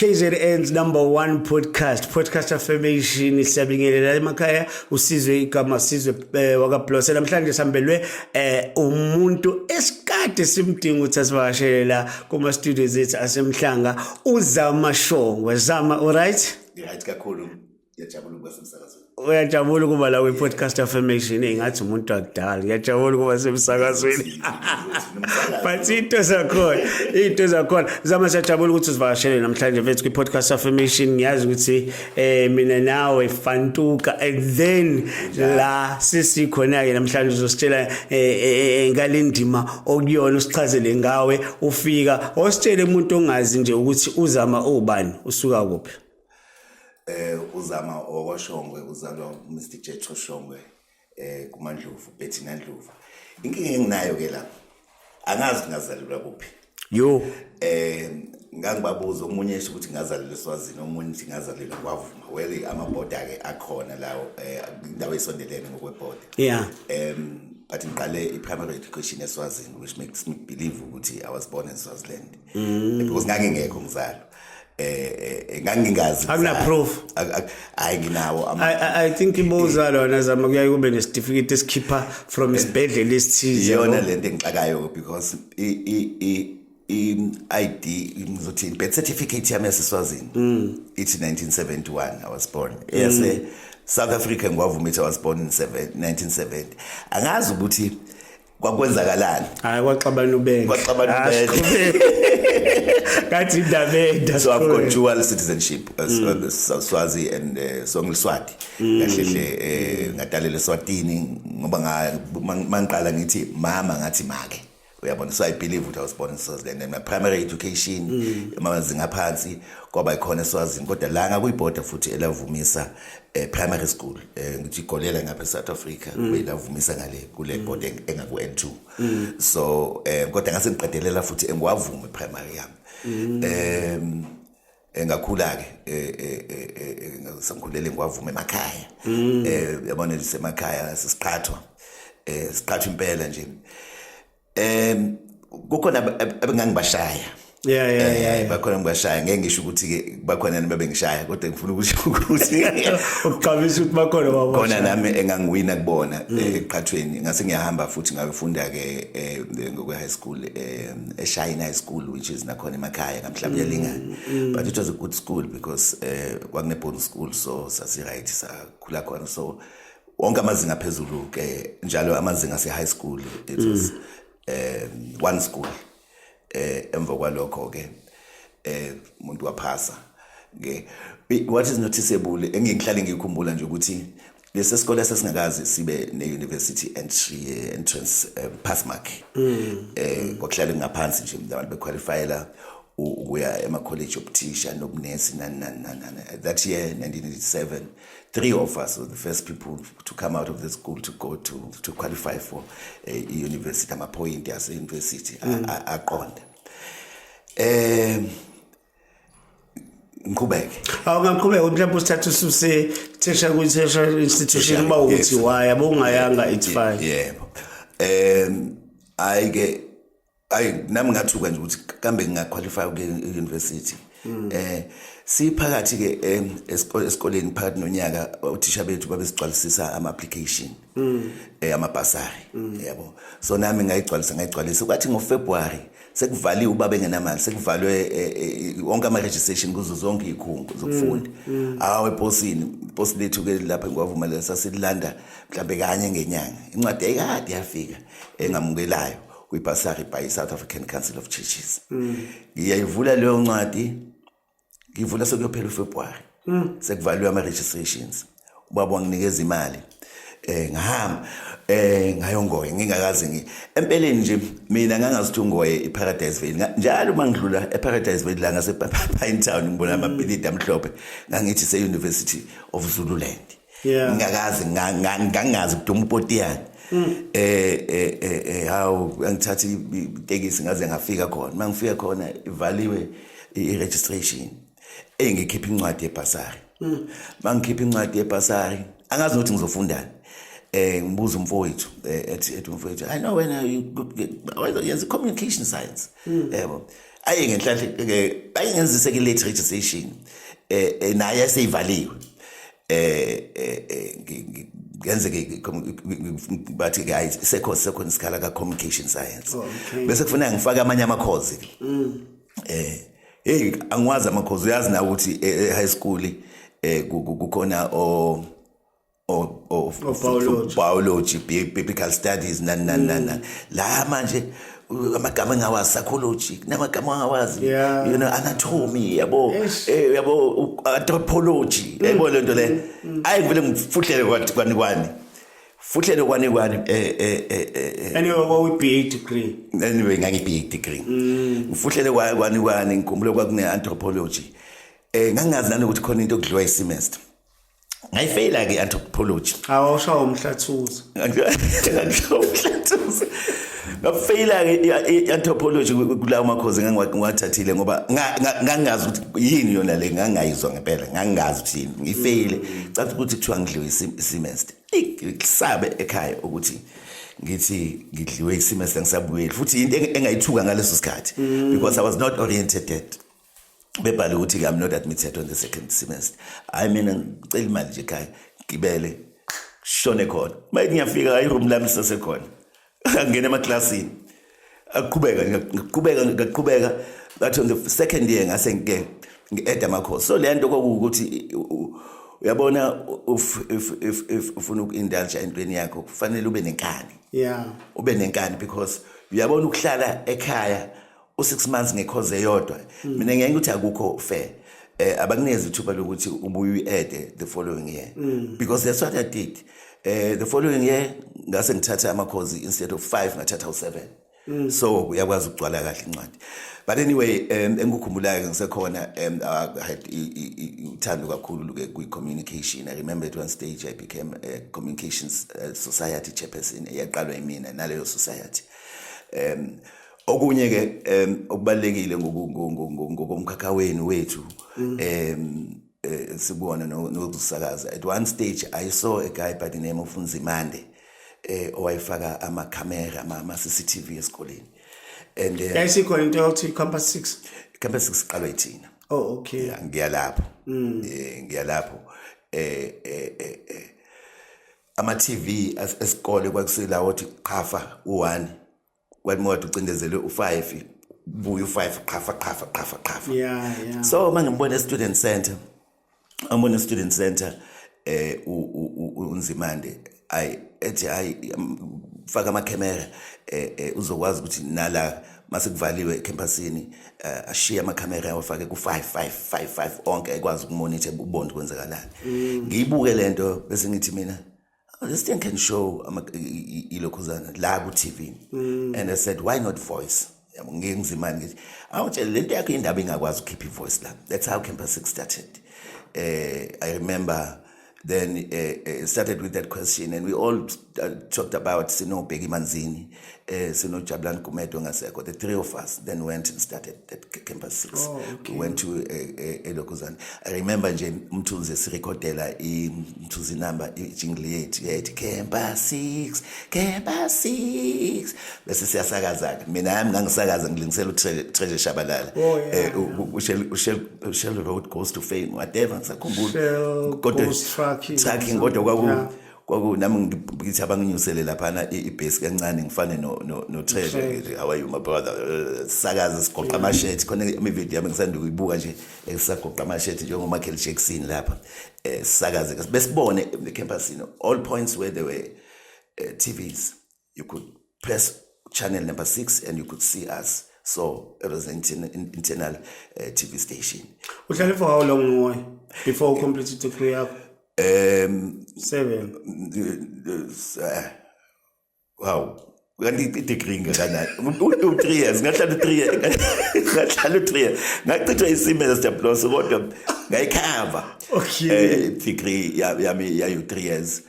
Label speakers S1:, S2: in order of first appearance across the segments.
S1: KZN's number one podcast podcast affirmation siyabingelela emakhaya usizwe igama sizwe eh, wakablose namhlanje sihambelwe eh, umuntu esikade simdinga ukuthi asivakashele la kuma studios ethu asemhlanga uzama shongwe zama all right right kakhulu
S2: ngiyajabula ukuba semsakazweni uyajabula ukuba la
S1: kwi-podcast affirmation engathi umuntu wakudala ngiyajabula ukuba semsakazweni but into zakhona into zakhona zama siyajabula ukuthi uzivakashele namhlanje mfethu kwi-podcast affirmation ngiyazi ukuthi um mina nawe fantuka and then la sisikhona-ke namhlanje uzositshela eh, eh, ngale ndima okuyona usichazele ngawe ufika ositshele umuntu ongazi nje ukuthi uzama ubani usuka kuphi eh
S2: uzama okoshongwe uzalwa uMr Jetho Shongwe eh kuMandlovu Betty Nandlovu inkinga enginayo ke lapha angazi ngazalelwa kuphi yo
S1: eh
S2: ngangibabuza omunye esho ukuthi ngazalelwa eSwazini omunye ukuthi ngazalelwa kwavuma well amaboda ke akhona lawo eh indawo esondelene ngokweboda yeah um
S1: but
S2: ngiqale i-primary education eSwazini which makes me believe ukuthi I was born in Swaziland mm. because ngangingekho ngizalo eh, eh, eh ngangingazi akuna proof
S1: hayi nginawo
S2: i think
S1: ibuza lona zama kuyaye kube nesitifiketi esikhipha from isibhedlela esithize iyona lento engixakayo
S2: because i i i-ID ngizothi birth certificate yami yaseswazini mm. ithi 1971 I was born eyase mm. South Africa ngiwavuma ithi I was born in 1970 angazi ukuthi kwakwenzakalani hayi kwaxabana
S1: ubeke kwaxabana ah, ubeke kathi indaba enda so i've got dual
S2: citizenship uh, mm. Uh, swazi and uh, so ngiswati mm. kahle hle eh, ngadalela swatini ngoba mangiqala ngithi mama ngathi make uyabona so i believe ukuthi i was born in swaziland and my primary education mm. amazinga aphansi kwaba ikhona eswazini kodwa la ngakuyibhoda futhi elavumisa eh, primary school eh, ngithi igolela ngapha eSouth Africa mm. beyinavumisa ngale kule mm. boarding engaku N2 mm. so eh, kodwa ngase ngiqedelela futhi engiwavume primary yami mm. eh engakhula ke eh, eh, eh, ngasangikhulele ngiwavume emakhaya mm. eh yabona lisemakhaya sisiqhathwa eh siqhathwa impela nje um kukhona abengangibashaya yeah yeah eh, yeah bakhona ngibashaya ngeke ngisho ukuthi ke bakhona nami bengishaya kodwa ngifuna ukuthi ukuthi uqabisa
S1: ukuthi bakhona baba khona nami engangiwina
S2: kubona mm. eh, eqhathweni ngase ngiyahamba futhi ngayofunda ke eh, ngokwe high school eShayina high school which is nakhona emakhaya ngamhlawumbe mm, yalingana mm. but it was a good school because kwakune bonus school so sasi right sakhula khona so wonke amazinga phezulu ke njalo amazinga se high school it was mm. um one school eh emva kwalokho ke eh umuntu waphasa ke what is noticeable engihlale ngikhumbula nje ukuthi lesi sikole sesingakazi sibe ne university entry eh, entrance um, pass mark mm. eh kwakuhlale ngaphansi nje abantu bequalifyela ukuya ema college obuthisha nobunesi nani nani nani that year 1987 three of us were the first people to come out of the school to go to, to qualify for a eh, university amaphoyinti yaseyunivesithi mm. aqonde um ngiqhubeke awungaqhubeka mhlawumbe
S1: usithatha ususe thesha kwi-thesha institution uba uthi waya bowungayanga it's fine yebo um
S2: hayi-ke ayi nami ngathuka nje ukuthi kambe ngingaqualify ukuya e-university mm. eh siphakathi ke eh, esikoleni phakathi nonyaka uthisha bethu babesigcwalisisa ama application mm. eh amabhasari mm. yabo so nami ngayigcwalisa ngayigcwalisa kwathi ngo February sekuvaliwe ubaba engenamali sekuvalwe eh, eh, wonke ama registration kuzo zonke izikhungo zokufunda hawo eposini iposi lethu ke lapha ngwavumelela sasilanda mhlambe kanye ngenyanga incwadi ayikade yafika engamukelayo kwibhasari by i-south african council of churches mm. ngiyayivula leyo ncwadi ngivula sekuyophela ufebruwari mm. sekuvaliwe ama-registrations ubaba wanginikeza imali eh ngihamba eh ngayongoye ngingakazi ngi empeleni nje mina ngangazithi ungoye iParadise Vale njalo uma ngidlula eParadise Vale la ngase Pine Town ngibona amabhilidi amhlophe ngangithi se University of Zululand yeah ngingakazi ngangazi kuduma upotiyana mm. eh eh eh, eh hawu angithatha itekisi ngaze ngafika khona mangifika khona ivaliwe i-registration engikhipha incwadi yebhasari bangikhipha mm. incwadi yebhasari angazi nokuthi ngizofundani eh ngibuza umfowethu eh, ethi ethi umfowethu i know when you yenza communication science mm. yebo aye ngenhlanhla bayingenzise ke late registration eh, eh naye eseyivaliwe eh, eh, eh ngenze ke bathi ke ayi sekho sekho isikhala ka communication science oh, bese kufanele ngifake amanye ama course ke mm. eh hey angwazi ama course uyazi na ukuthi eh, high school eh kukhona o of, of, of biology. biology biblical studies nani nani nani nani la manje u- amagama engawazi psychology kunamagama angawazi Yeah. you know anatomy yabo Eish. eh, yabo u- anthropology yabo le nto le ayi ngivele ngifuhlele kwathi kwani kwani fuhlele kwani kwani eh eh eh eh, eh
S1: anyway kwawi-ba degree anyway ngangi-big
S2: degree ngifuhlele kwa- kwani kwani ngikhumbule kwakune-anthropology um ngangingazi nanokuthi khona into okudliwa isemester ngayifeyila ke anthropology awushawa
S1: umhlathuzo ngishawa umhlathuzo
S2: ngafeyila ke anthropology kulawo makhozi ngangiwathathile ngoba ngangazi ukuthi yini yona le ngangayizwa ngempela ngangazi ukuthi yini ngifeyile cathi ukuthi kuthiwa ngidliwe isimest ngisabe ekhaya ukuthi ngithi ngidliwe isimest ngisabuyeli futhi into engayithuka ngaleso sikhathi mm. because i was not oriented bebhale ukuthi I'm not admitted on the second semester hayi mina ngicela imali nje ekhaya ngibele shone khona mayithi ngiyafika hayi room lami lisasekhona angena emaklasini aqhubeka ngaqhubeka ngaqhubeka ngathi on the second year ngase ngike ngi-add amakhosi so le nto kwakuwukuthi uyabona ufuna uku-indulja entweni yakho kufanele ube nenkani yeah. ube nenkani because uyabona ukuhlala ekhaya u 6 months ngekhoze eyodwa hmm. mina ngeke ukuthi akukho fair eh abakunikeza ithuba lokuthi ubuye uyiede the following year mm. because that's what i did eh the following year ngase ngithatha amakhozi instead of 5 ngathatha u7 mm. so uyakwazi ukugcwala kahle incwadi but anyway um engikukhumbulayo ngisekhona um i had uthando kakhulu ke kwi communication i remember at one stage i became a communications uh, society chairperson eyaqalwa imina naleyo society um okunye ke um okubalekile ngokomkhakha wenu wethu mm. um eh, sikuwona nokusakaza at one stage i saw a guy by the name of Nzimande eh owayifaka ama camera ama CCTV esikoleni and eh, yayisikhona into yokuthi
S1: campus 6 campus 6
S2: qala ithina oh okay
S1: ngiyalapho
S2: mm. eh ngiyalapho eh eh eh, eh ama TV esikole kwakuselawo ukuthi qhafa u1 kwathi mawade ucindezelwe u-five buya u-five qhafa qhafa qhafa qhafa yeah, yeah.
S1: so uma ngimbona e-student
S2: center ambona e-student center eh unzimande ayi ethi hayi faka amakhemera eh, eh uzokwazi ukuthi nala mase kuvaliwe ecampusini eh, ashiye amakhamera awafake ku-5555 onke ekwazi ukumonitor ubone kwenzakalani mm. ngiyibuke lento bese ngithi mina this thing can show ilokhuzana la ku TV mm. and i said why not voice yabo ngeke ngizimani ngithi awutshele lento yakho indaba ingakwazi ukukhipha ivoice la that's how campus 6 started eh i remember then uh, uh, started with that question and we all uh, talked about sinobheki manzini eh sinojabulani gumedo ngasekho the three of us then went and started at campus 6 oh, okay. we went to eh, eh, elokuzana i remember nje umthunzi sirecordela imthuzi number ijingle yethu yayithi campus 6 campus 6 bese siyasakazana mina yami ngangisakaza ngilingisela utreasure shabalala oh, eh ushel road goes to fame whatever ngisakhumbula kodwa tracking kodwa kwaku kwaku nami ngithi abanginyusele laphana ibhesi kancane ngifane no no no Trevor how are you my brother sakaza sigoqa amashethi khona imi video yami ngisanda kuyibuka nje esagoqa amashethi njengo Michael Jackson lapha eh sakaze besibone the campus you know all points where there were uh, eh, TVs you could press channel number six and you could see us so it was an internal, internal uh, tv station uhlale for how long
S1: ngoy before u completed degree yakho um seven uh,
S2: wow kanti idegree ngekanani u-three years ngahlala u-three years ngahlala u-three years ngachithwa isimela sijabulose kodwa ngayikhava um eh,
S1: degree
S2: yami yayi-three years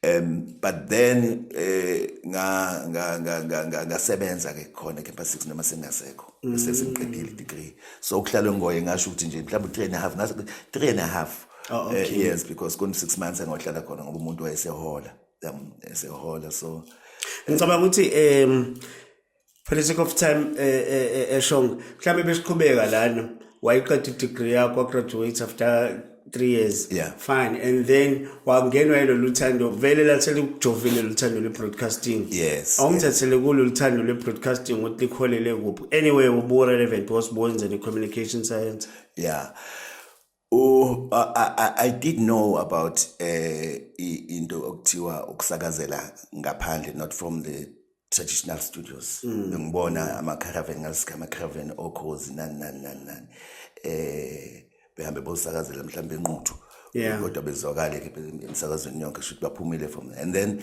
S2: um but then eh nga nga nga nga ngasebenza ke khona campus 6 noma sengasekho mm. sesingiqedile degree so ukuhlala ngoye ngasho ukuthi nje mhlawumbe 3 and a half ngathi 3 and a half oh, eh, okay. uh, yes because kun 6 months engohlala khona ngoba umuntu wayesehola um
S1: esehola
S2: so
S1: ngicabanga ukuthi um for the sake of time eshong eh, eh, eh, mhlawumbe besiqhubeka lana wayiqeda i-degree yakho wagraduate after three years yeah. fine and
S2: then
S1: wangenwa yilo luthando vele lathele ukujovile luthando lwe-broadcasting yes awungithathele
S2: yes. kulo luthando
S1: lwe-broadcasting ukuthi likholele kuphi anyway ubu-relevant was bowenzeni i-communication science yeah
S2: Oh, I, I, I did know about uh, into okuthiwa ukusakazela ngaphandle not from the traditional studios mm. bengibona ama-caravan ngasika ama-caravan okhozi nani nani nani nani eh behambe bosakazela mhlawumbe enquthu kodwa
S1: bezwakale-ke
S2: emsakazweni yonke shuthi baphumile from and then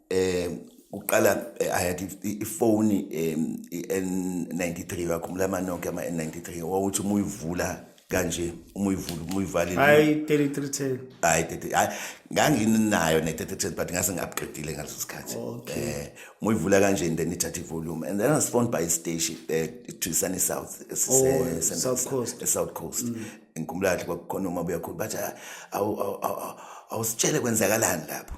S2: um kuqala eh, i had ifoni um i-n93 wakhumbula amanonke ama-n93 wawuthi uma uyivula kanje uma uyivula uma uyivalile hayi
S1: 3310 hayi hayi
S2: nganginayo ne-3310 but ngase ngabuqedile ngaleso sikhathi um uma uyivula kanje and then ithatha ivolume and then i was phoned by istation um eh, to sunny south
S1: esisesouth oh, coast
S2: mm. ngikhumbula kahle kwakukhona uma buyakhulu bathi ah, awusitshele kwenzakalani lapho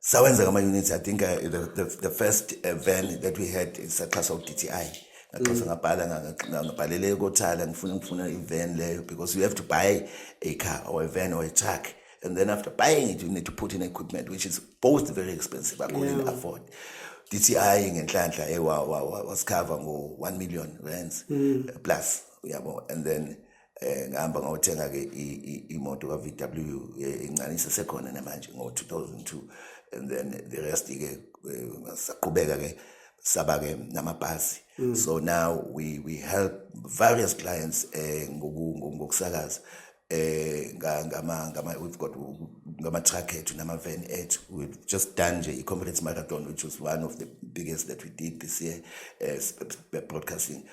S2: sawenza kama units i think uh, the, the, the first uh, van that we had saxhaswa uDTI ngaxhasa mm. ngabhala ngabhalele kothala ngifuna ngifuna ivan leyo because you have to buy a car or a van or a truck and then after buying it you need to put in equipment which is both very expensive i couldn't yeah. afford DTI ngenhlanhla ewa eh, wasikhava ngo 1 million rands mm. plus uyabo and then eh ngihamba ngawuthenga ke imoto ka VW encane eh, isesekhona namanje ngo 2002 and then the rest ke eh, saqhubeka ke saba ke namabhasi mm. so now we we help various clients eh ngokusakaza eh ngama ngama we've got ngama truck ethu nama van ethu we've just done nje i-conference marathon which was one of the biggest that we did this year as eh, broadcasting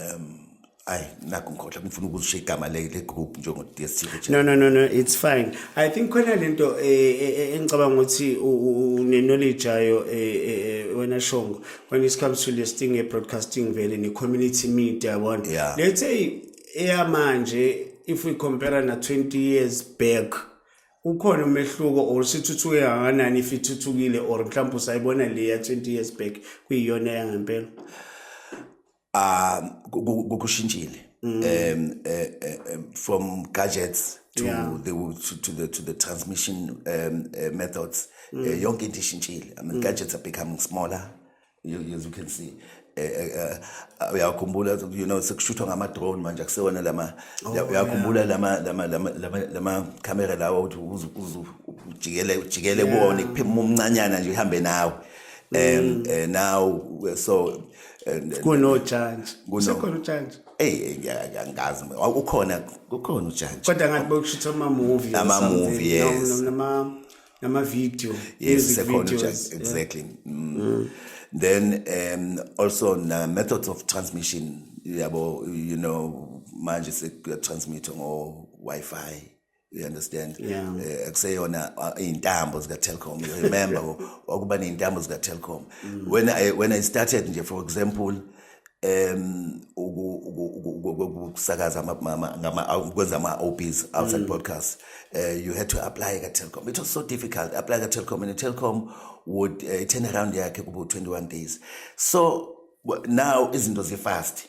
S2: um ayi nakho ngikhohle ngifuna ukuzisho igama
S1: le le group njengo DSTV no no no no it's fine i think khona lento eh, eh, eh, engicabanga ukuthi une knowledge ayo wena shongo when it comes to listing a broadcasting vele ne community media yabona yeah. let's say eyamanje if we compare na 20 years back ukhona umehluko or sithuthuke kangakanani if ithuthukile or mhlawumbe usayibona le ya 20 years back kuyiyona yangempela ah
S2: kushintshile mm. um eh, eh, eh, from gadgets to yeah. the to, to the to the transmission um, uh, methods mm. uh, yonke into ishintshile i mean mm. gadgets are becoming smaller you, as you can see eh, eh, eh, uyakhumbula you know sekushuthwa ngama-drone manje akusewona lama oh, uyakhumbula lama lama lama lama lama camera lawo ukuthi uze uze ujikele ujikele kuwona ikuphima umncanyana nje uhambe nawe um now so
S1: kunojantshi kusekhona ujantshi eyi angazi
S2: ukhona ukhona ujantshi kodwa ngathi bokushutha
S1: ama-movie ama-movie yes
S2: nama
S1: video yes
S2: sekhona just exactly
S1: mm. Mm.
S2: then um also na methods of transmission yabo you know manje sekuya transmit ngo wifi you understand yeah. uh, eh, kuseyona uh, iy'ntambo zika-telcom you remember wakuba ney'ntambo zika-telcom mm. when, I, when i started nje for example um ukusakaza kwenza ama-obs outside mm. podcast uh, eh, you had to apply ka-telcom it was so difficult apply ka-telcom and telcom would uh, eh, turn around yakhe kubo 21 days so now izinto zifast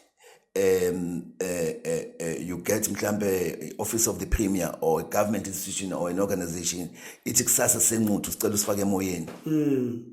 S2: um uh, uh, uh, you get mhlambe office of the premier or a government institution or an organization ithi kusasa senquthu sicela usifake emoyeni mm.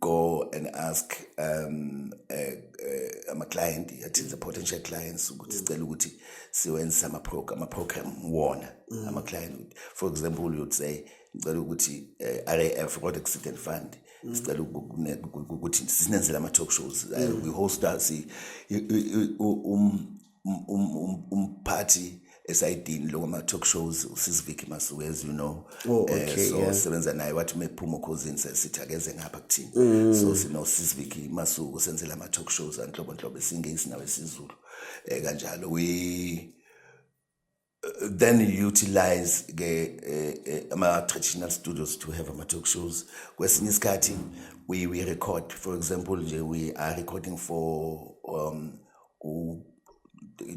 S2: go and ask um eh, eh, ama-client uh, uh, athi the potential clients ukuthi sicela ukuthi siwenze ama-program wona mm. ama-client for example you'd say ngicela ukuthi uh, eh, raf road accident fund mm. sicela ukuthi sinenzele ama-talk shows mm. we host us um um, um, um, umphathi esayidini lokho ama-talk shows usisiviki masuku as you know oh, okay, eh, so yeah. sebenza naye wathi uma ephuma okhozini sesithi akeze ngapha kuthini mm. so sinosisiviki masuku senzela ama-talk shows anhlobonhlobo esingeyisi nawe esizulu um eh, kanjalo we then you utilize ke eh, eh, ama traditional studios to have ama talk shows kwesinye isikhathi we we record for example nje we are recording for um ku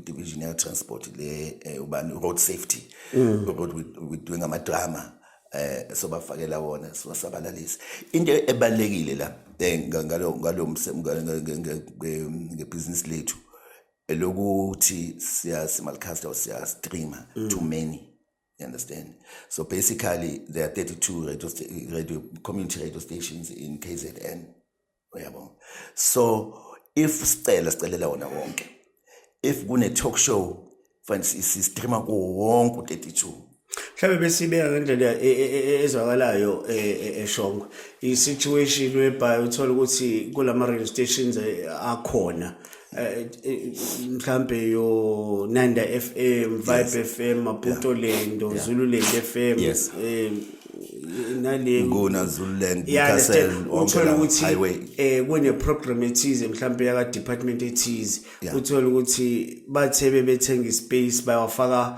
S2: division ya transport le eh, ubani road safety mm. road we, we doing ama drama eh sobafakela wona siwasabalalise into ebalekile la ngalo ngalo ngebusiness lethu elokuthi siyasi malcast or siya streamer mm. too many you understand so basically there are 32 radio, radio community radio stations in kzn uyabo so if sicela sicelela wona wonke if kune-talk show fanele sistreama kuwo wonke u-32 mhlawumbe besibeka
S1: ngendlela e, e, e, ezwakalayo eshongwe i-situation whereby uthole ukuthi kulama radio stations akhona mhlambe yo Nanda FM, Vibe yes. FM, Maputo yeah. Lendo, yeah. Zululand FM. Yes. Um, nale ngona Zululand
S2: Castle
S1: uthola ukuthi eh kune program ethize mhlawumbe yaka department ethize uthola ukuthi bathe bebethenga ispace bayawafaka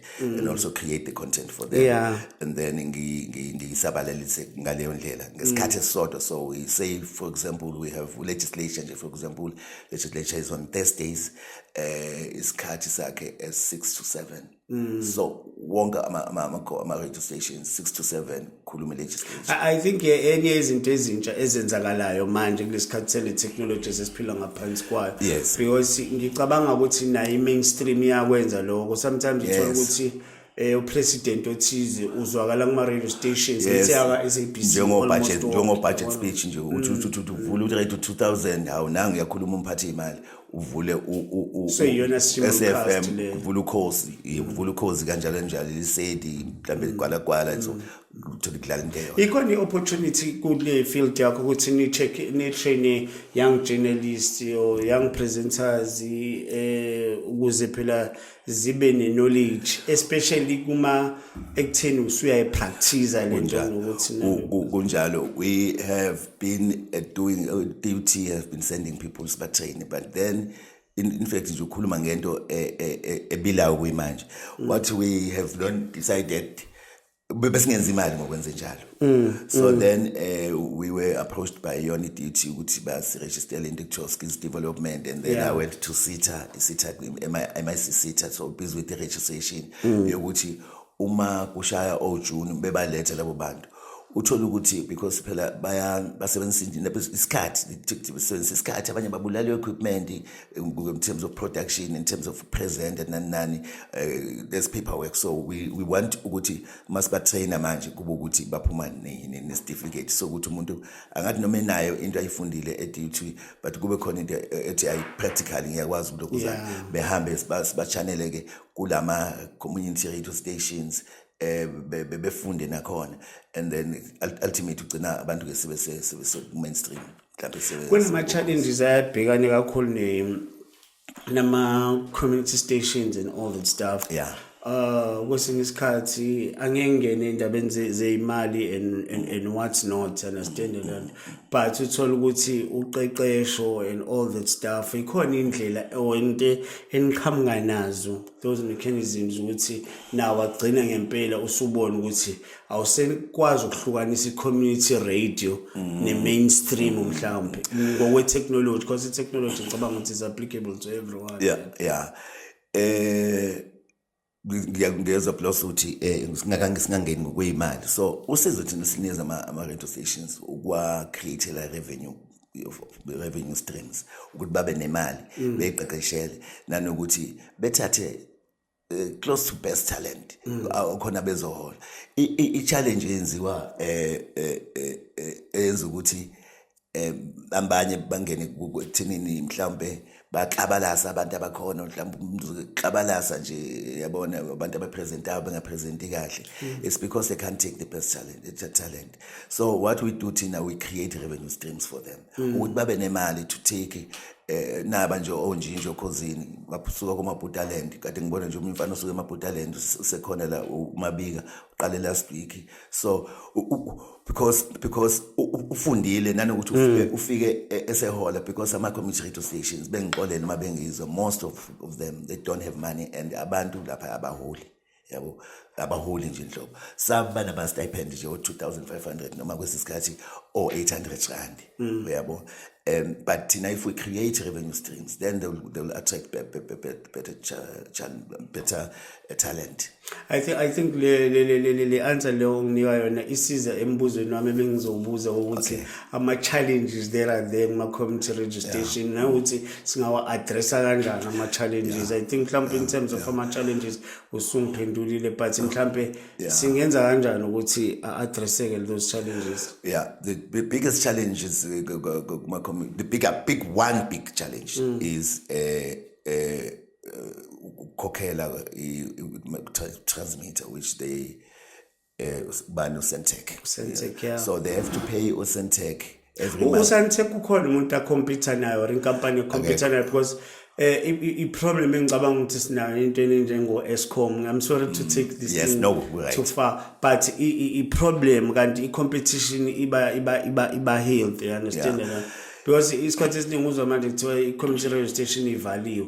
S2: mm. and also create the content for them yeah. and then ngiyisabalalise ngaleyo ndlela ngesikhathi mm. esisodwa so we say for example we have legislation nje for example legislature is on thursdays eh isikhathi sakhe as 6 to 7 mm. so wonke ama-radio stations 6 to 7 ukhulume legislation i think enye
S1: izinto ezintsha ezenzakalayo manje kulesikhathi sele technology sesiphila ngaphansi kwayo yes because ngicabanga ukuthi nayo i-mainstream iyakwenza lokho sometimes uthola ukuthi yes. eh upresident othize uzwakala kuma radio stations ethi aka SABC njengo budget njengo
S2: budget speech nje uthi uthi uvula uthi right 2000 hawu nangu uyakhuluma umphathi imali uvule
S1: useyiyona SFM
S2: uvule ukhosi uvule ukhosi kanjalo njalo lisedi mhlambe ligwala gwala so uthola kudlala into eyo ikhona i-opportunity
S1: kule field yakho ukuthi ni-check ni-traine young journalist or young presenters eh ukuze phela zibe ne-knowledge especially kuma ekutheni usuyayipractice le nto ngokuthi kunjalo
S2: we have been uh, doing uh, duty have been sending people sibatrain but then in, in fact nje ukhuluma ngento e, e, e, ebilayo kuyimanje mm. what we have not decided besingenza imali ngokwenze njalo mm, so mm. then uh, we were approached by yona iduty ukuthi basiregistele into ekuthiwa skills development and then yeah. i went to sita isita mic sita so busy with the registration mm. yokuthi uma kushaya ojuni bebalethe labo bantu uthole ukuthi because phela basebenzisa isikhathi basebenzisa isikhathi abanye babulala i-equipment in terms of production in terms of present and nani nani uh, there's paperwork so we, we want ukuthi masibatraina manje kube ukuthi baphuma nesitifiketi sokuthi umuntu angathi noma enayo into ayifundile edut but kube khona into eh, ethi ayi-practically ngiyakwazi ukuthi lokuzana behambe sibachanele-ke kulama-community radio stations eh befunde nakhona and then ultimately ugcina abantu ke sebe sebe mainstream kunama-challenges
S1: ayabhekane kakhulu nama-community stations and all that stuff yeah uh kwesinye isikhathi angeke ngene endabeni zeyimali and, and and what's not understand and but uthola ukuthi uqeqesho and all that stuff ikhona indlela ewente eniqhamuka nazo those mechanisms ukuthi nawo agcina ngempela usubona ukuthi awusekwazi ukuhlukanisa i-community radio mm. ne-mainstream mm. mhlawumbe ngokwe-technology because i-technology ngicabanga ukuthi is applicable to everyone yeah yeah eh
S2: ngiyeza plus ukuthi eh singakange singangeni ngokweyimali so usizo thina sinikeza ama ama radio stations ukwa create la revenue revenue streams ukuthi babe nemali mm. beyiqeqeshele nanokuthi bethathe eh, close to best talent mm. khona bezohola i challenge yenziwa eh, eh, eh, eh eyenza ukuthi eh abanye bangene kuthinini mhlawumbe baxabalasa abantu abakhona mhlawumbe umxabalasa nje yabona abantu abapresentayo bengapresenti kahle mm. it's because they can't take the best talent, talent so what we do thina we create revenue streams for them mm. ukuthi babe nemali to take eh naba nje onjinje okhozini baphusuka komabhutaland kade ngibona nje umuntu mfana osuke emabhutaland usekhona la umabika uqale last week so because because ufundile nanokuthi mm. ufike ufike e, esehola because ama community radio stations bengixolele uma bengizwa most of, of them they don't have money and abantu lapha abaholi yabo abaholi nje nhlobo some banama-stipend nje o-2500 noma kwesinye isikhathi o-800 rand mm. uyabo um but thina if we create revenue streams then they will, they will attract be, be, be, better, cha, better uh, talent i think, I think
S1: le, le, le, le, le answer leyo onginika yona isiza embuzweni wami ebengizowubuza ukuthi okay. ama-challenges there are there kuma-community registration yeah. nawukuthi singawa-addressa kanjani ama-challenges yeah. i think mhlawumpe yeah. in terms yeah. of ama-challenges usungiphendulile but mhlawumpe yeah. singenza kanjani ukuthi a-addresseke those challenges yeah the biggest
S2: challenges uh, the big, big one big challenge mm. is uh, uh, ukukhokhela uh, transmitter which they eh bani uSentech uSentech yeah. so they have to pay uSentech every month uSentech ukhona umuntu
S1: akhompyutha nayo or inkampani ekhompyutha nayo because eh i problem engicabanga ukuthi sinayo into enjengo Escom i'm sorry to mm. take this yes, thing no, right. too far but i problem kanti i competition iba iba iba iba health you understand yeah. because isikhathi esiningi uzwa manje kuthiwa i community radio station ivaliwe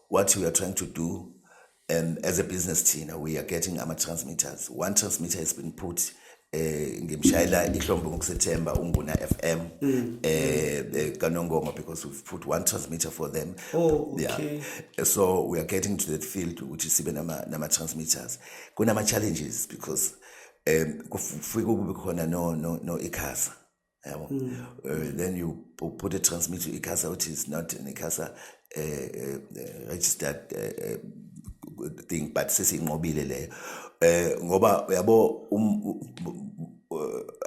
S2: what we are trying to do um, as a business thina we are getting ama-transmitters one transmitter has been put eh ngimshayela ihlombe ngokusethemba unguna FM mm. eh, eh kanongoma because we've put one transmitter for them oh okay yeah. so we are getting to that field ukuthi sibe nama nama transmitters kunama challenges because um kufike kube khona no no no ikhasa yabo mm. uh, then you put a transmit to icasa which is not an icasa uh, eh, uh, eh, registered uh, thing but sesinqobile leyo eh ngoba uyabo um,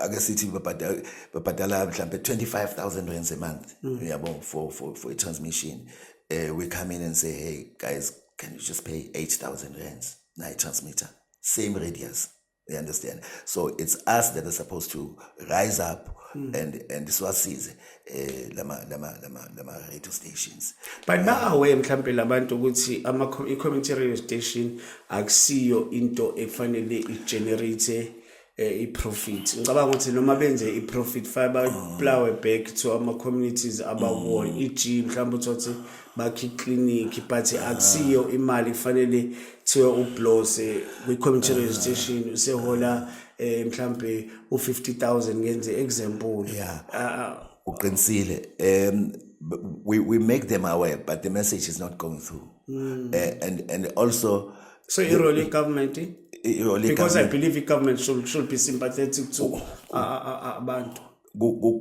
S2: ake sithi babhadala babhadala mhlambe 25000 rands a month mm. uyabo for for for a transmission eh we come in and say hey guys can you just pay 8000 rands na transmitter same radius you understand so it's us that are supposed to rise up mm. and and siwasize eh lama lama lama lama radio stations but now we
S1: mhlambe labantu ukuthi ama community radio station akusiyo into efanele i generate eh, i profit ngicabanga ukuthi noma benze i profit fiber plow back to ama communities abawona mm. eg mhlambe uthi bakhe iklinikhi but akusiyo imali kufanele kuthiwe ublose kwi-community radio station usehola um mhlawumbe u-fifty thousand ngenze example Yeah. Ah,
S2: uqinisile um b- we, we make them aware but the message is not going through mm. uh, and, and also so irole
S1: igovernment irole because i believe igovernment should, should be sympathetic to ah, ah, ah, abantu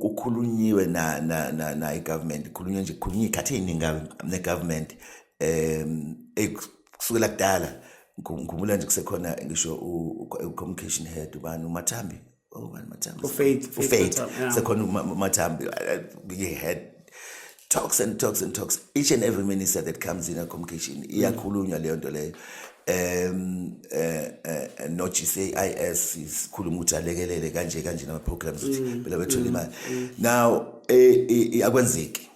S2: kukhulunyiwe na na na na igovernment ikhulunywe nje kukhulunywe ikhathi eningi ne government um kusukela kudala ngikhumbula nje kusekhona ngisho u communication head ubani umathambi ubani oh, mathambi ufaith ufaith sekhona umathambi ye head talks and talks and talks each and every minister that comes in a communication iyakhulunywa leyo nto leyo um eh, eh, eh, no GCIS sikhuluma ukuthi alekelele kanje kanje nama programs ukuthi mm, phela bethole mm, imali mm. now akwenzeki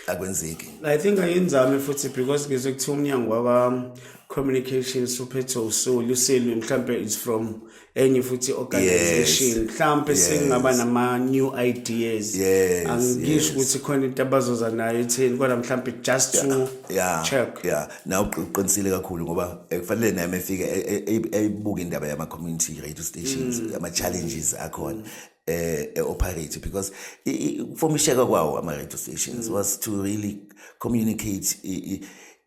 S2: akwenzeki
S1: i think ayenzame futhi because ngizwe kuthiwa umnyango waba communications uphethe usoli uselwe mhlambe is from enye futhi organization mhlambe yes. singaba nama new ideas yes, angisho ukuthi yes. khona into abazoza nayo etheni kodwa mhlambe just yeah, to yeah, check yeah na
S2: uqinisile kakhulu ngoba ekufanele eh, naye mefike eh, eh, eyibuka indaba yama community radio stations mm. ama challenges akhona eh operate because formisheka kwawo ama radio stations mm. was to really communicate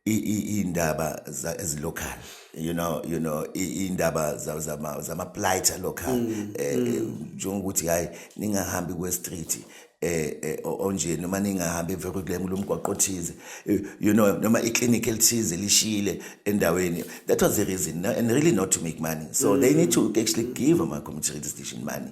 S2: iy'ndaba ezilocal you know you know iy'ndaba zama-plight alocal um mm, eh, mm. eh, njengokuthi hhayi ningahambi kwe-street eh, eh onje noma ningahambi evekwe kule mulo mgwaqo othize eh, you know noma iclinic elithize lishile endaweni that was the reason and really not to make money so mm. they need to actually give ama community radio station money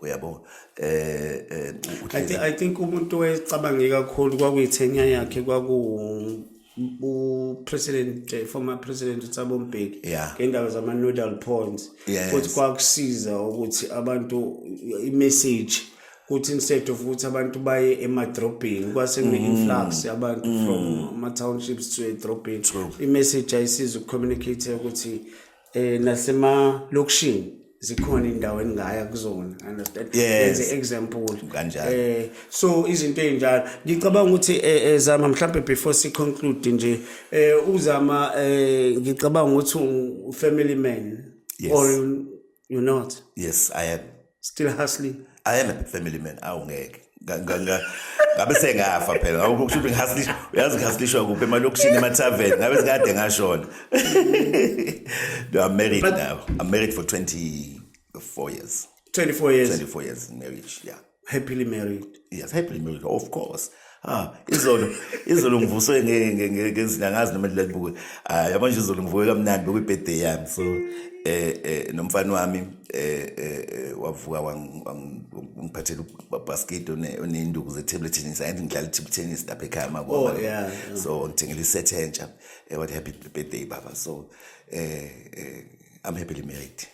S2: uyabo eh, eh
S1: I think, I think umuntu owayecabange kakhulu kwakuyithenya yakhe kwaku upresident eh, former president uThabo Mbeki yeah. ngendaba zama nodal points yes. futhi kwakusiza ukuthi abantu imessage ukuthi instead of ukuthi abantu baye emadrobheni kwase kune mm. influx yabantu mm. from ama townships to edrobheni imessage ayisiza ukucommunicate ukuthi eh nasemalokishini zikhona indawo engaya kuzona understand yes. as example kanjalo eh so izinto ezinjalo ngicabanga ukuthi eh, eh zama mhlambe before si conclude nje eh uzama eh ngicabanga ukuthi u family man yes. or you not yes i am
S2: still hustling
S1: i am a family
S2: man awu ngeke ngabe sengafa phela ngakho kusho ukuthi ngihaslisha uyazi ngihaslishwa kuphi emalokishini emathaveni ngabe sikade ngashona no i'm married But, now i'm married for 24 years 24 years 24
S1: years in marriage
S2: yeah happily married
S1: yes i blame you
S2: of course ah izolo izolo ngivuswe ngezina ngazi noma ndile ngibuke ah yabo nje izolo ngivuke kamnandi bekuyi birthday yami so eh, eh nomfana wami eh, eh, eh wavuka wangiphathela ubasket onenduku ze table tennis and ngidlala table tennis lapha ekhaya mako oh, yeah, yeah. so ngithengele iset entsha eh, what happy birthday baba so eh, eh I'm happily married.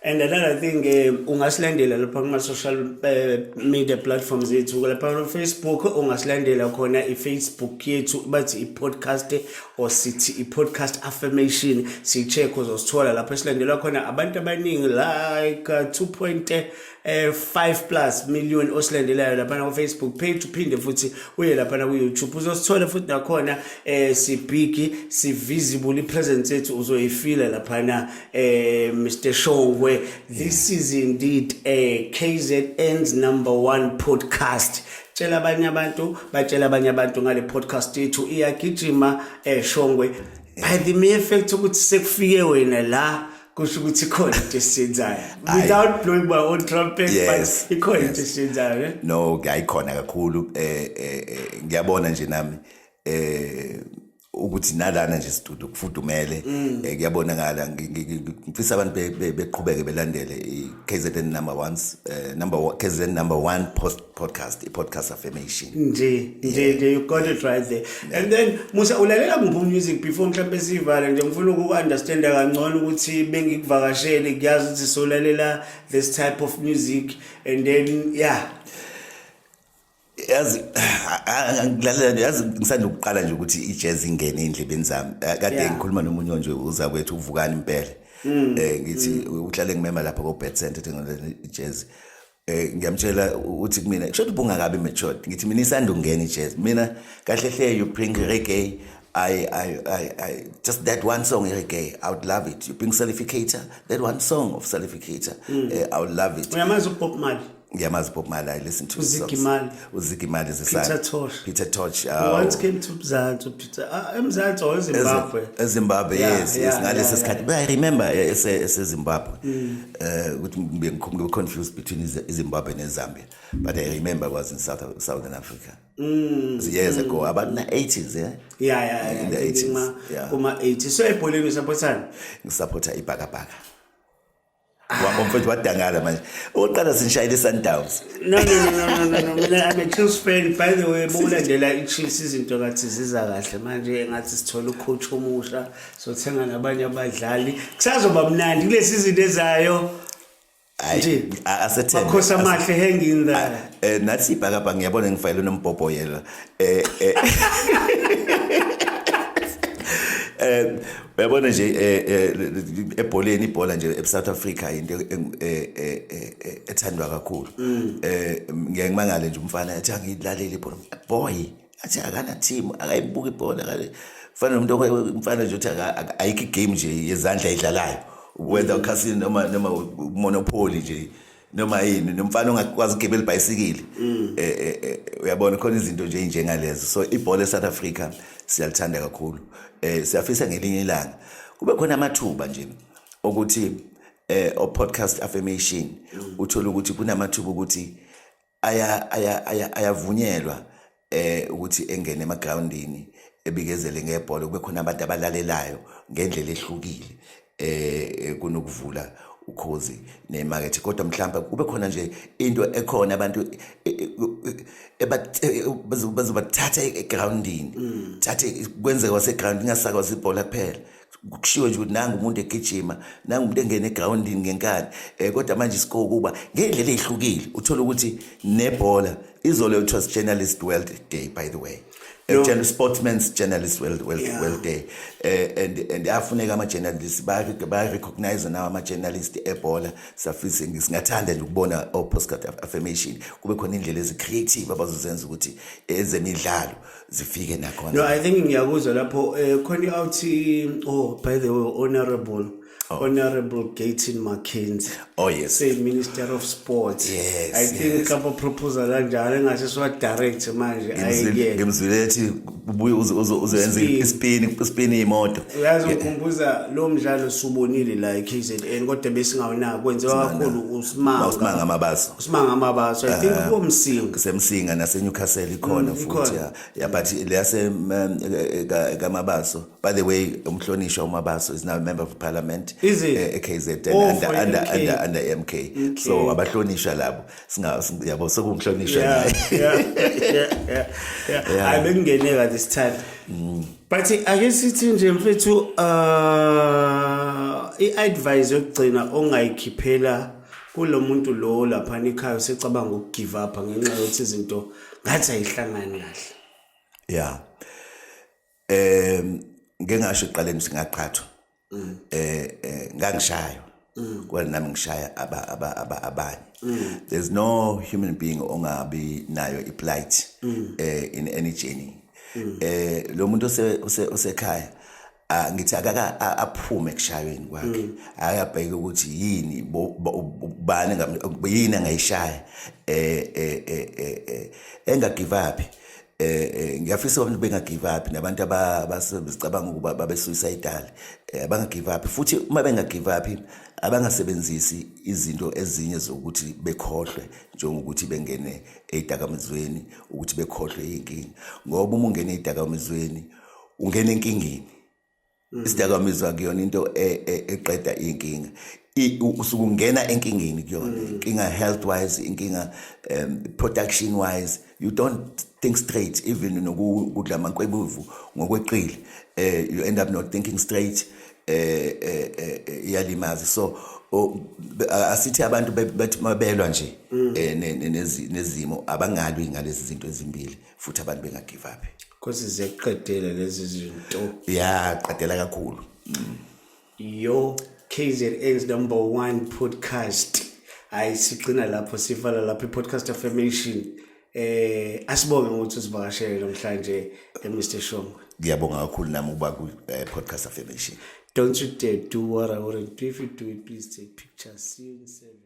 S2: And another
S1: thing eh ungasilandela lapha kuma social eh, media platforms yethu lapha on Facebook ungasilandela khona iFacebook yethu bathi iPodcast or sithi iPodcast affirmation sicheck uzosithola lapha silandelwa khona abantu abaningi like uh, 2. eh 5 plus million osilandelayo lapha ku Facebook page uphinde futhi uye lapha ku YouTube uzosithola futhi nakhona eh si big si visible presence yethu uzoyifila lapha na eh Mr Shongwe this is indeed a KZN's number 1 podcast tshela abanye abantu batshela abanye abantu ngale podcast yethu iyagijima eshongwe eh, by the mere fact ukuthi sekufike wena la kusho ukuthi ikhona into esiyenzayo without blowing my own trumpet yes, but ikhona into yes. esiyenzayo eh? no ayikhona
S2: kakhulu eh, eh, eh, ngiyabona nje nami eh ukuthi nalana nje sidudu kufudumele mm. eh, kuyabonakala ngifisa abantu beqhubeke belandele i-KZN number 1 eh, number KZN number 1 post podcast i-podcast affirmation nje nje nje
S1: you got it right there and then musa ulalela kuphi music before mhlawumbe sivale nje ngifuna uku-understanda kangcono ukuthi bengikuvakashele kuyazi ukuthi solalela this type of music and then yeah
S2: yazi ngilalela yazi ngisanda ukuqala nje ukuthi i-jazz ingene endlebeni zami eh, kade ngikhuluma nomunye nje uza kwethu uvukani impela um ngithi mm. uhlale ngimema lapha ko-bed center thengolela i-jazz eh ngiyamtshela uthi kumina kusho ukuthi bungakabi matured ngithi mina isanda ungena ijazz mina kahle hle you bring reggae I, I, I, I, just that one song, Erike, I would love it. You bring Salificator, that one song of Salificator, mm. uh, I would love it. Uyamazi uPop Mali?
S1: Ngiyamazi uPop Mali,
S2: I listen to his songs.
S1: uzigimali zisana
S2: Peter Tosh once came to
S1: Mzansi Peter ah, eMzansi or eZimbabwe eZimbabwe yes
S2: yes ngalesi sikhathi but i remember eh, ese eZimbabwe mm. eh ukuthi ngibe confused between iZimbabwe neZambia but i remember was in South Southern Africa mm years ago mm. about the 80s yeah yeah yeah in
S1: the 80s
S2: kuma 80s so ebholeni
S1: usaphotha ngisapotha
S2: ibhakabhaka Wabo mfethu wadangala manje. Uqala sinishayile Sundowns. No no no no no no.
S1: Mina I'm a Chiefs fan by the way bulandela iChiefs izinto ngathi ziza kahle manje ngathi sithola ucoach omusha sothenga nabanye abadlali. Kusazoba mnandi kulesi izinto ezayo. Nje
S2: asethembe. Makhosi amahle
S1: hanging there. Eh nathi ibhakabha ngiyabona
S2: ngifayile nombhobho yela. eh eh eh uyabona nje eh, eh, ebholeni ibhola nje eSouth Africa into eh, ethandwa kakhulu mm. eh ngeke ngimangale nje umfana athi angilaleli ibhola boy athi akana team akayibuki ibhola kale fana nomuntu umfana nje uthi ayikho igame nje yezandla idlalayo whether ukhasini noma noma monopoly nje noma yini nomfana ongakwazi ukugibela ibhayisikili mm. eh, eh, eh, uyabona khona izinto nje njengalezo so ibhola eSouth Africa siyalithanda kakhulu eh siyafisa ngelinye ilanga kube khona amathuba nje ukuthi eh o podcast affirmation mm. uthola ukuthi kunamathuba ukuthi ayavunyelwa eh ukuthi engene emagroundini ebikezele ngebhola kube khona abantu abalalelayo ngendlela ehlukile eh kunokuvula ukhozi nemakethe kodwa mhlawumbe kube khona nje into ekhona abantu e, e, e, bazobathatha egroundini mm. thathe kwenzeka wasegroundini ingasakwazi ibhola kuphela kushiwo nje ukuthi nangu umuntu egijima nangu umuntu engena egrawundini ngenkani um kodwa manje siko ukuba ngey'ndlela ey'hlukile uthole ukuthi nebhola izolo kuthiwa si-journalist world day by the way no. sportsman's journalist world, world, yeah. world day uh, and, and afuneka ama-journalist bayarecognize nawo ama-journalist ebhola safise singathanda nje ukubona o-postcard affirmation kube khona indlela ezi-creative abazozenza ukuthi ezemidlalo eh, zifike nakhona no i think ngiyakuzwa
S1: lapho eh, khona iawuthi oh by the way honorable Oh. Honorable Gaten McKenzie. Oh yes. Say
S2: Minister of
S1: Sports. Yes. I think
S2: kapa yes.
S1: proposal kanjalo engase siwa direct manje ayike. Ngimzwile ethi
S2: ubuye uzoyenza ispin ispin imoto. Uyazi ukhumbuza
S1: lo mdlalo subonile la eKZN kodwa besingawunaki kwenziwa kakhulu uSmanga. uSmanga amabaso. Simanga
S2: Mabaso I
S1: think komsinga semsinga nase
S2: Newcastle ikhona futhi ya ya but leyase ka Mabaso by the way umhlonishwa uMabaso is now a member of parliament eKZN
S1: under under
S2: under under MK so abahlonishwa labo singa yabo sokumhlonishwa naye
S1: yeah yeah yeah I bengene ka this time but ake sithi nje mfethu uh i advice yokugcina ongayikhiphela kulo muntu lo laphana ekhaya usecabanga ukugive up ngenxa yokuthi izinto ngathi ayihlangani kahle ya
S2: um ngingasho ekuqaleni singaqhathwa um mm. eh, eh, ngangishayo mm. kwena nami ngishaya abanye mm. there's no human being ongabi nayo iplight um in any journey um lo muntu osekhaya Ah, ngithi akaka aphume kushayweni kwakhe mm. ayabheka ukuthi yini bani yini angayishaya eh eh eh, eh, eh engagive up eh ngiyafisa abantu bengagive up nabantu abasebenzicabanga ukuba babe suicidal abangagive up futhi uma bengagive up abangasebenzisi izinto ezinye zokuthi bekhohlwe njengokuthi bengene ezidakamizweni ukuthi bekhohlwe inkingi ngoba uma ungene ezidakamizweni ungena enkingeni mm. isidakamizwa kuyona into e, e, eqeda inkinga usuke ungena enkingeni kuyona mm. inkinga health wise inkinga um, production wise you don't think straight even nokudla amankwebuvu ngokweqile eh you end up not thinking straight eh, eh, eh, eh iyalimaza so asithi abantu bathi mabelwa nje mm. eh, nezimo abangalwi ngalezi zinto ezimbili futhi abantu benga give up because ziyakuqedela
S1: lezi zinto yeah qedela
S2: kakhulu mm.
S1: yo KZN's number 1 podcast hayi sigcina lapho sivala lapho i-podcast affirmation eh asibonge ukuthi usivakashele namhlanje eMr eh, Shongwe ngiyabonga kakhulu nami
S2: ukuba ku eh, podcast affirmation
S1: don't you
S2: dare
S1: do what i want to do if you do it please take pictures see you in seven